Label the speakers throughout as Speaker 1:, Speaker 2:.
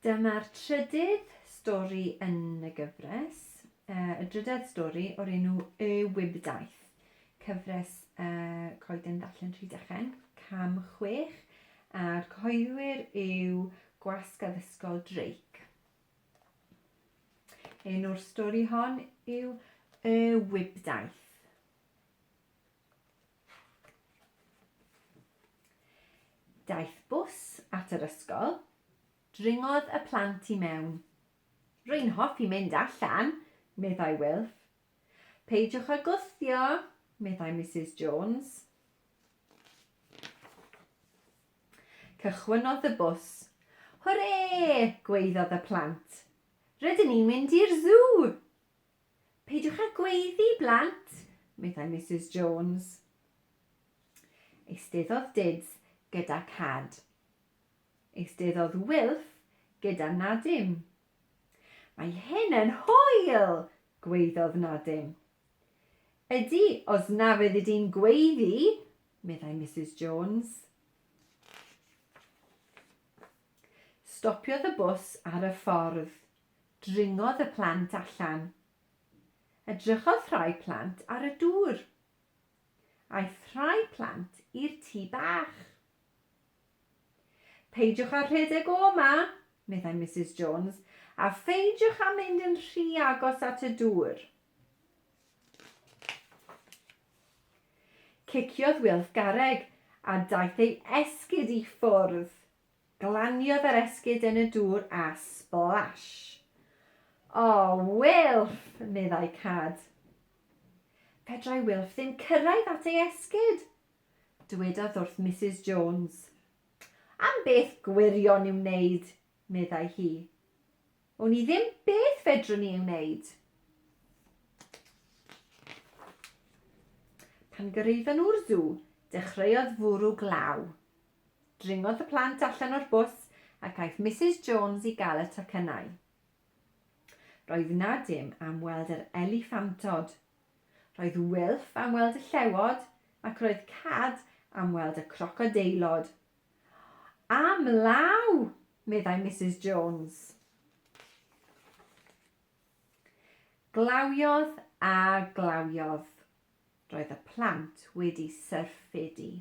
Speaker 1: Dyma'r trydydd stori yn y gyfres, y drydedd stori o'r enw Y Wibdaith, cyfres coeden ddarllen Rhydychen, cam chwech, a'r cyhoeddwyr yw Gwasg Addysgol Drake. Enw'r stori hon yw Y Wibdaith. Daeth bws at yr ysgol, dringodd y plant i mewn. Rwy'n hoffi mynd allan, meddai Wilf. Peidiwch â gwthio, meddai Misus Jones. Cychwynnodd y bws. Hwrê! gwaeddodd y plant. Rydyn ni'n mynd i'r sw! Peidiwch â gweiddi, blant, meddai Misus Jones. Eisteddodd Dids gyda Cad. Eisteddodd Wilff gyda Nadim. Mae hyn yn hwyl! gweiddodd Nadim. Ydy, os na fyddi di'n gweiddi, meddai Misus Jones. Stopiodd y bws ar y ffordd Dringodd y plant allan. Edrychodd rhai plant ar y dŵr. Aeth rhai plant i'r tŷ bach. Peidiwch â rhedeg o 'ma, meddai Misus Jones, a pheidiwch â mynd yn rhy agos at y dŵr. Ciciodd Wilf garreg a daeth ei esgid i ffwrdd. Glaniodd yr esgid yn y dŵr a splash! O, Wilff! meddai Cad. Fedrai Wilff ddim cyrraedd at ei esgid! dywedodd wrth Misus Jones. Am beth gwirion i'w wneud, meddai hi. Wn i ddim beth fedrwn ni ei wneud. Pan gyrraeddon nhw'r sw, dechreuodd fwrw glaw. Dringodd y plant allan o'r bws ac aeth Misus Jones i gael y tocynnau. Roedd Nadim am weld yr eliffantod. Roedd Wilf am weld y llewod ac roedd Cad am weld y crocodeilod. Am law! meddai Misus Jones. Glawiodd a glawiodd. Roedd y plant wedi syrffedu.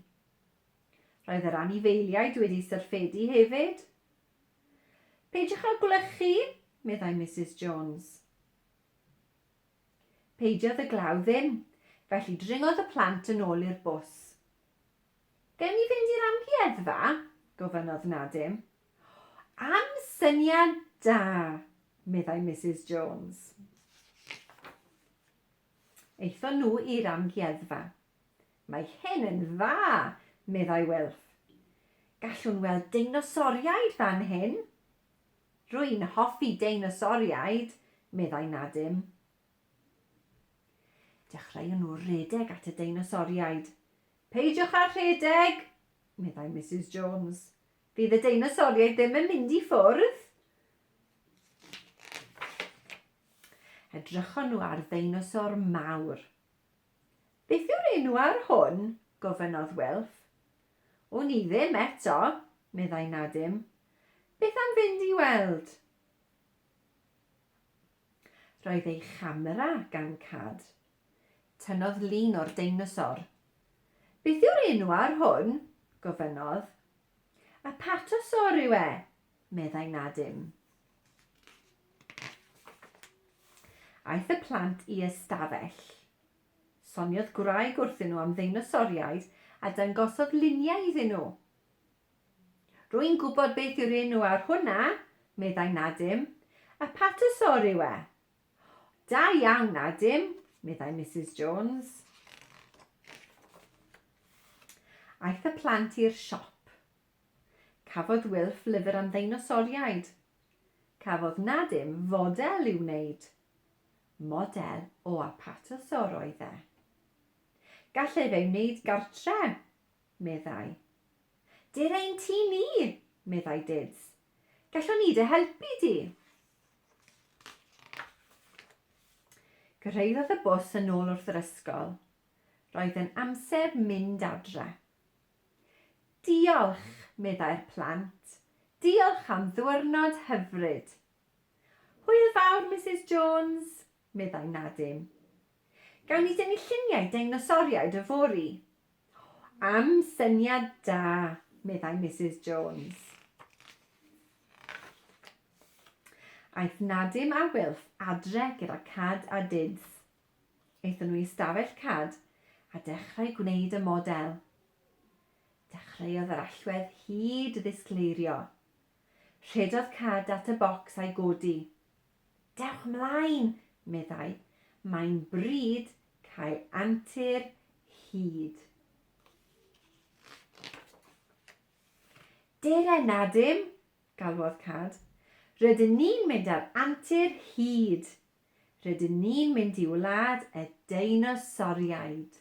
Speaker 1: Roedd yr anifeiliaid wedi syrffedu hefyd. Peidiwch â gwlychu, meddai Misus Jones. Peidiodd y glaw ddim, felly dringodd y plant yn ôl i'r bws. Gawn ni fynd i'r amgueddfa? gofynnodd Nadim. Am syniad da, meddai Misus Jones. Aethon nhw i'r amgueddfa. Mae hyn yn dda, meddai Wilf. Gallwn weld deinosoriaid fan hyn! Rwy'n hoffi deinosoriaid, meddai Nadim. Dechreuon nhw redeg at y deinosoriaid. Peidiwch â rhedeg, meddai Misus Jones. Fydd y deinosoriaid ddim yn mynd i ffwrdd. Edrychon nhw ar ddeinosor mawr. Beth yw'r enw ar hwn? gofynnodd Wilf. Wn i ddim eto, meddai Nadim. Beth am fynd i weld? Roedd ei chamera gan Cad. Tynnodd lun o'r deinosor. Beth yw'r enw ar hwn? gofynnodd. Apatosaur yw e, Meddai na dim. Aeth y plant i ystafell. Soniodd gwraig wrthyn nhw am ddeinosoriaid a dangosodd luniau iddyn nhw. Rwy'n gwybod beth yw'r enw ar hwnna, meddai Nadim. A patosor yw e. Da iawn, Nadim, meddai Mrs Jones. Aeth y plant i'r siop. Cafodd Wilf lyfr am ddeinosoriaid. Cafodd Nadim fodel i'w wneud. Model o Apatosaur oedd e. Gallai fe ei wneud gartre, meddai. Dir ein tŷ ni, meddai Dids. Gallwn ni dy helpu di. Gyrhaeddodd y bws yn ôl wrth yr ysgol. Roedd yn amser mynd adre. Diolch, meddai'r plant. Diolch am ddiwrnod hyfryd. Hwyl fawr, Misus Jones, meddai Nadin. Gawn ni dynnu lluniau deinosoriaid yfory? Am syniad da, meddai Misus Jones. Aeth Nadim a Wilf adre gyda Cad a Dyns. Aethon nhw i ystafell cad a dechrau gwneud y model. Dechreuodd yr allwedd hud ddisgleirio. Rhedodd cad at y bocs a'i godi. Dewch 'mlaen! meddai. Mae'n bryd cael antur hud. Dere na dim! galwodd cad. Rydyn ni'n mynd ar antur hud! Rydyn ni'n mynd i wlad y deinosoriaid.